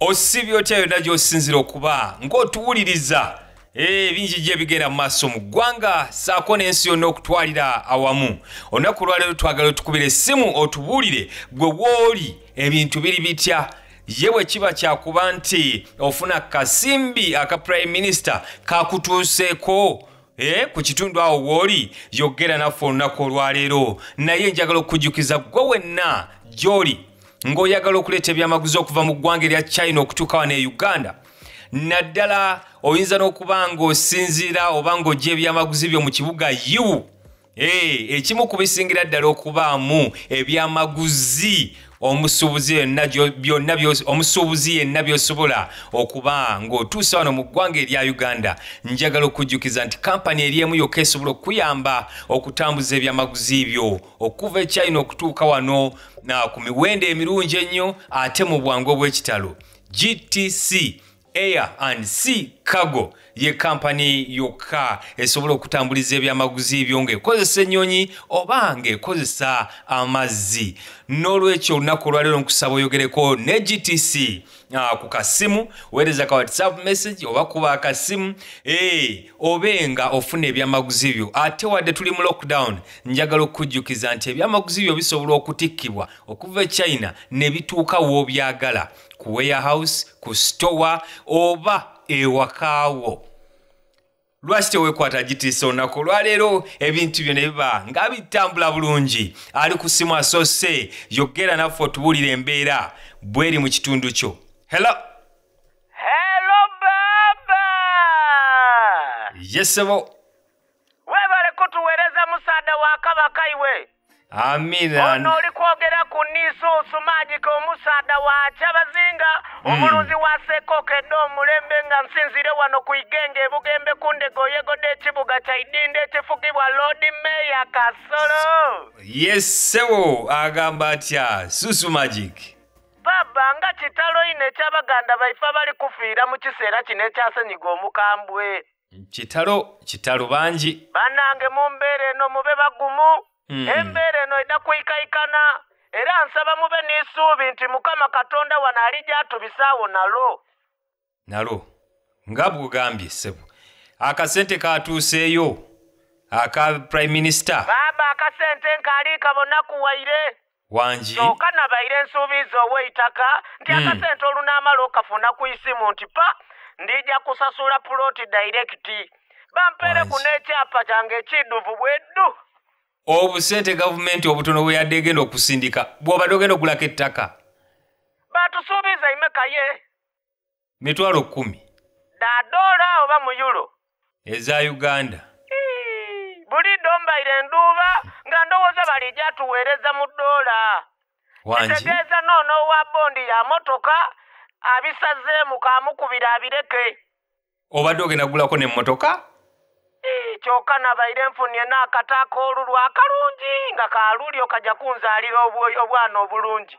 osibye otya yonna gy'osinzira okuba ng'otuwuliriza eh, ebingi gye bigenda mu maaso mu ggwanga saako n'ensi yonna okutwalira awamu olunaku olwaleero twagala otukubira essimu otubuulire gwe wooli ebintu biri bitya ye bwe kiba kyakuba nti ofuna kasimbi aka prime minister kakutuuseeko Eh, ku kitundu awo wooli yogera naffe olunaku olwaleero naye njagala okukujjukiza gwe wenna gyoli ng'oyagala okuleeta ebyamaguzi okuva mu ggwanga erya china okutuuka wano e uganda naddala oyinza n'okuba ng'osinziira oba ng'ojja ebyamaguzi byo mu kibuga yiwu Hey, ekimu ku bisingira ddala okubaamu ebyamaguzi omusuubuzi yenna byonna omusuubuzi yenna byosobola okuba ng'otuusa wano mu ggwanga erya uganda njagala okujjukiza nti kampani eri emu yokka esobola okukuyamba okutambuza ebyamaguzi byo okuva e china okutuuka wano ku miwendo emirungi ennyo ate mu bwangu obw'ekitalo gtc Air and Sea Cargo ye kampani yokka esobola okutambuliza ebyamaguzi byo ng'ekozesa ennyonyi oba ng'ekozesa amazzi n'olwekyo olunaku olwaleero nkusaba oyogereko ne gtc ah, ku kasimu weereza ka whatsapp message oba kuba akasimu eh, obe nga ofuna ebyamaguzi byo ate wadde tuli mu lockdown njagala okukujjukiza nti ebyamaguzi byo bisobola okutikkibwa okuva e china ne bituuka w'obyagala ku warehouse ku store oba ewakaawo lwaki tewekwata gitiisa olunaku olwaleero ebintu byo ne biba nga bitambula bulungi ali ku simu asoose yogera naffe otubuulira embeera bweri mu kitundu kyo helo helo baba yesebo webale kutuwereza musaada wa kabaka iwe amina ono oli kwogera ku niisuusu maajika omusaada wa kyabazinga hmm. omulunzi wa sekoka edde omulembe nga nsinzire wano ku igenge ebugembe ku ndego yegoda ekibuga kya idinda ekifugibwa loodi meya kasolo yesewo agamba atya susu magic baba nga kitalo ine ekyabaganda baife abali kufiira mu kiseera kino ekyasenyiga omukambwe kitalo kitalo bangi banange mu mbeera eno mube bagumu mm. embeera eno eda kuikaikana era nsaba mube n'esuubi nti mukama katonda wano ali gyatubisaawo nalo nalo nga bwugambye ssebo akasente katuuseeyo aka prime minister baaba akasente nkaali kabonakuwaire wangi kyoka nabaire nsuubiiza oweitaka nti hmm. akasente olunaamala okafuna ku isimu nti pa ndija kusasula puloti dayirekiti bampeereku n'ekyapa kyange ekiduvu bweddu obusente gavumenti obutono bwe yadde egenda okusindika bw'obadde ogenda okugulako ettaka batusuubiza imekaye mitwalo kkumi dadoola oba muyulo eza uganda buli dombaire enduuba nga ndowooza balija tuweereza mu doola kitegeeza noono owa bondi ya motoka abisazeemu kamukubira abireke obadde ogenda kugulako nemmotoka kyokka nabaire nfunye n'akata ak'olulwa akalungi nga kalulyo kajja kunzaalira obwana obulungi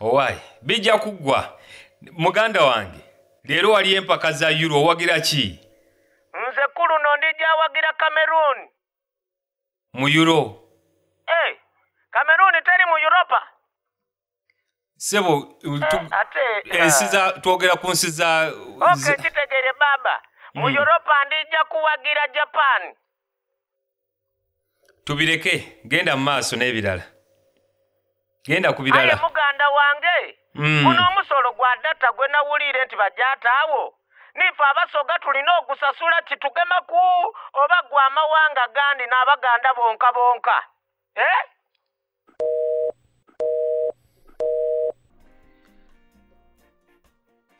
owaye bijja kuggwa muganda wange leero wali empaka za yuro owagira ki nze kuluno ndijawagira cameroon mu yuro e eh, hey, cameroon teri mu europa sebo eh, ensi eh, za twogera ku nsi za okay, kitegere baba mu mm. europa ndija kuwagira japan tubireke genda mu maaso n'ebirala genda ku birala aye muganda wange mm. guno omusolo gwa data gwe nawuliire nti bajataawo nife abasoga tulina ogusasula kitugema ku oba gwe amawanga gandi n'abaganda bonka bonka eh?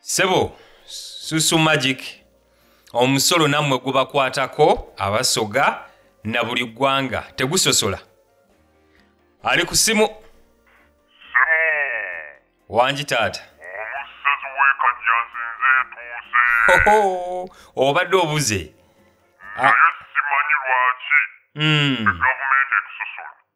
sebo susu magic omusolo nammwe gubakwatako abasoga na buli ggwanga tegusosola ali ku simu wangi taata obadde obuze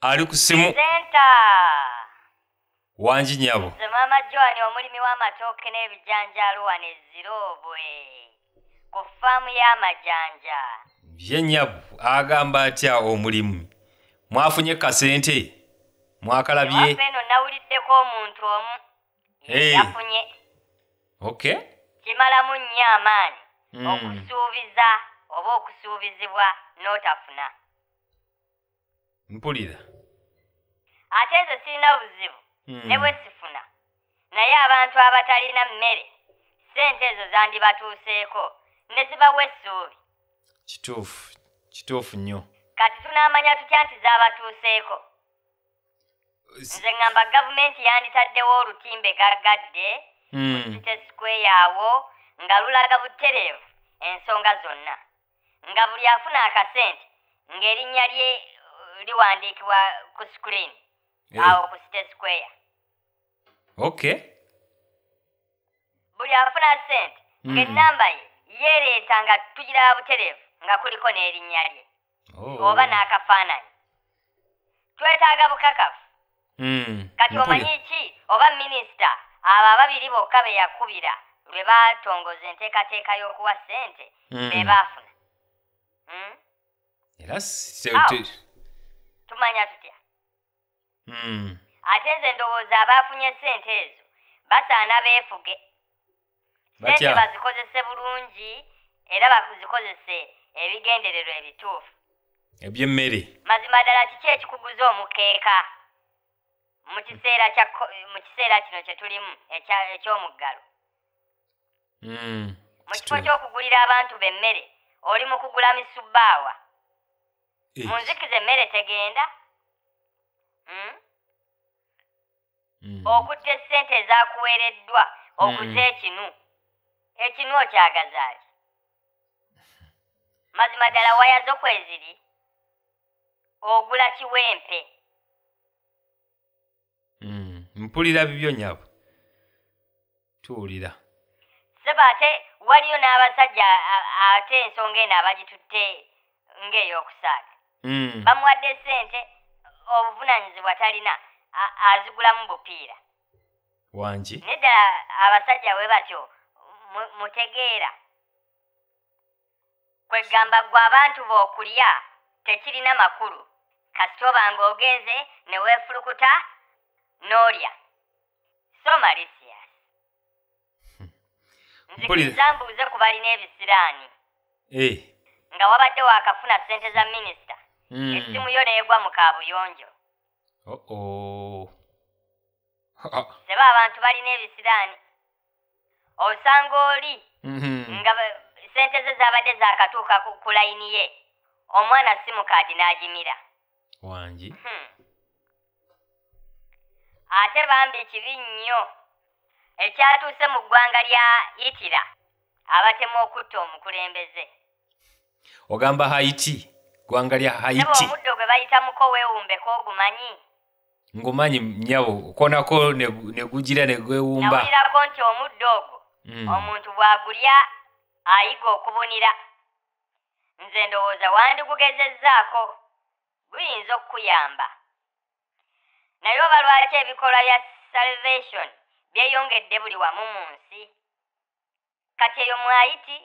ali ku simu senta wangi nyabo nze maama joani omulimi w'amatooke n'ebijanjaalo wano eziroobwe ku faamu y'amajanja ye nyabo agamba atya omulimu mwafunye kasente mwakalabye eno nawuliddeko omuntu omu yafunye ok kimalamu nnyo amaanyi hmm. okusuubiza oba okusuubizibwa n'otafuna mpulira ate nze sirina buzibu hmm. ne bwe sifuna naye abantu abatalina mmere ssente ezo zandibatuuseeko ne zibawa essuubi kituufu kituufu nnyo kati tunaamanya tutya nti zaabatuuseeko nze ŋŋamba gavumenti yanditaddewo olutimbe gaggadde hmm. mu site sikweyawo nga lulaga butereevu ensonga zonna nga buli afuna akasente ng'erinnya lye uh, liwandiikibwa ku screen eh. awo ku site square okay buli afuna sente hmm. ng'ennamba ye yeereeta nga tugiraba butereevu nga kuliko n'erinnya lye oh. oba n'akafaananyi twetaaga bukakafu hmm, kati omanyi ki oba minisita abo ababiri bokka be yakubira lwe baatongoza enteekateeka y'okuwa ssente hmm. be baafuna hmm? tumanya tutya ate nze ndowooza abaafunye ssente ezo basaana beefuge sente bazikozese bulungi era bakuzikozese ebigendererwa ebituufu ebyemmere mazima ddala kiki ekikuguza omukeeka mu kiseera mu kiseera kino kye tulimu eky'omuggalo hmm, mu kifo ky'okugulira abantu b'emmere oli mu kugula misubbaawa eh. mu nzikiza emmere tegenda hmm? mm. okutta essente ezakuweereddwa okuza mm. ekinu ekinu okyagazaaki mazima ddala waya zo kweziri ogula kiwempe mm. mpulira bibyo nyabo tuwulira sebo ate waliyo n'abasajja ate ensonga eno abagitutte ng'ey'okusaaga hmm. bamuwadde sente obuvunanyizibwa talina azigulamu bupiira wangi nedda abasajja we batyo mutegeera kwegamba gwe abantu bokulya tekirina makulu kasita oba nga ogenze ne weefulukuta n'olya so malisias hmm. nzikiriza mbuuze ku balina ebisiraani eh. nga wabadde waakafuna ssente za minisita hmm. essimu yo neegwa mu kaabuyonjo oh, oh. seba abantu balina ebisiraani osanga oli mm-hmm. nga sente ze zabadde zakatuuka ku layini ye omwana simukaadi n'agimira wangi hmm. ate bambi kibi nnyo ekyatuuse mu ggwanga lya itira abatemu okutta omukulembeze ogamba haiti ggwanga lya haiti omuddo gwe bayitamuko weewumbeko ogumanyi ngomanyi nyabo konako negujira negwewumba nawulirako nti omuddo ogwo mm. omuntu bwagulya ayiga okubunira nze ndowooza wandigugezezzaako guyinza okukuyamba naye oba lwaki ebikolwa bya salvation byeyongedde buli wamu mu nsi kati eyo mwayiti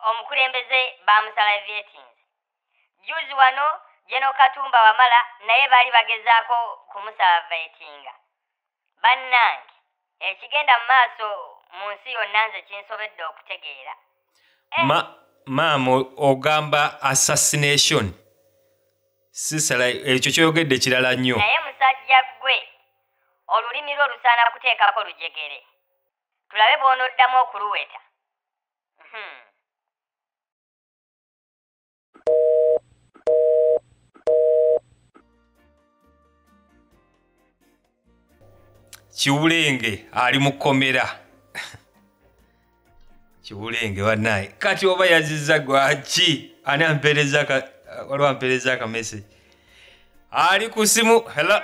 omukulembeze bamusala vyetinze juzi wano jeno katumba wamala naye baali bagezaako kumusaba vetinga bannange ekigenda mu maaso mu nsi yonna nze kinsobedde okutegeera eh. ma maama ogamba assassination sisala ekyo kyoyogedde kirala nnyo naye musajja gwe olulimi lwo lusaana kuteekako lujegere tulabe bw'onoddamu okuluweta Hmm. kiwulenge ali mu kkomera kiwulenge banaye kati oba yaziza gwaki ani ampereza ka- waliwo ampereza akamese ali ku simu hela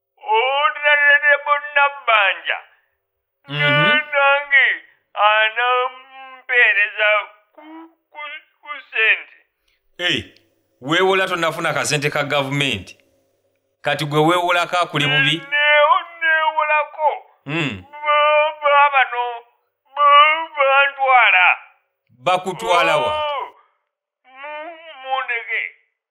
onerebo nabbanja nange anampeereza ku sente weewola tonafuna kasente ka gavumenti kati gwe weewolako akuli bubi neewolako hmm. babano bantwala bakutwalawa oh.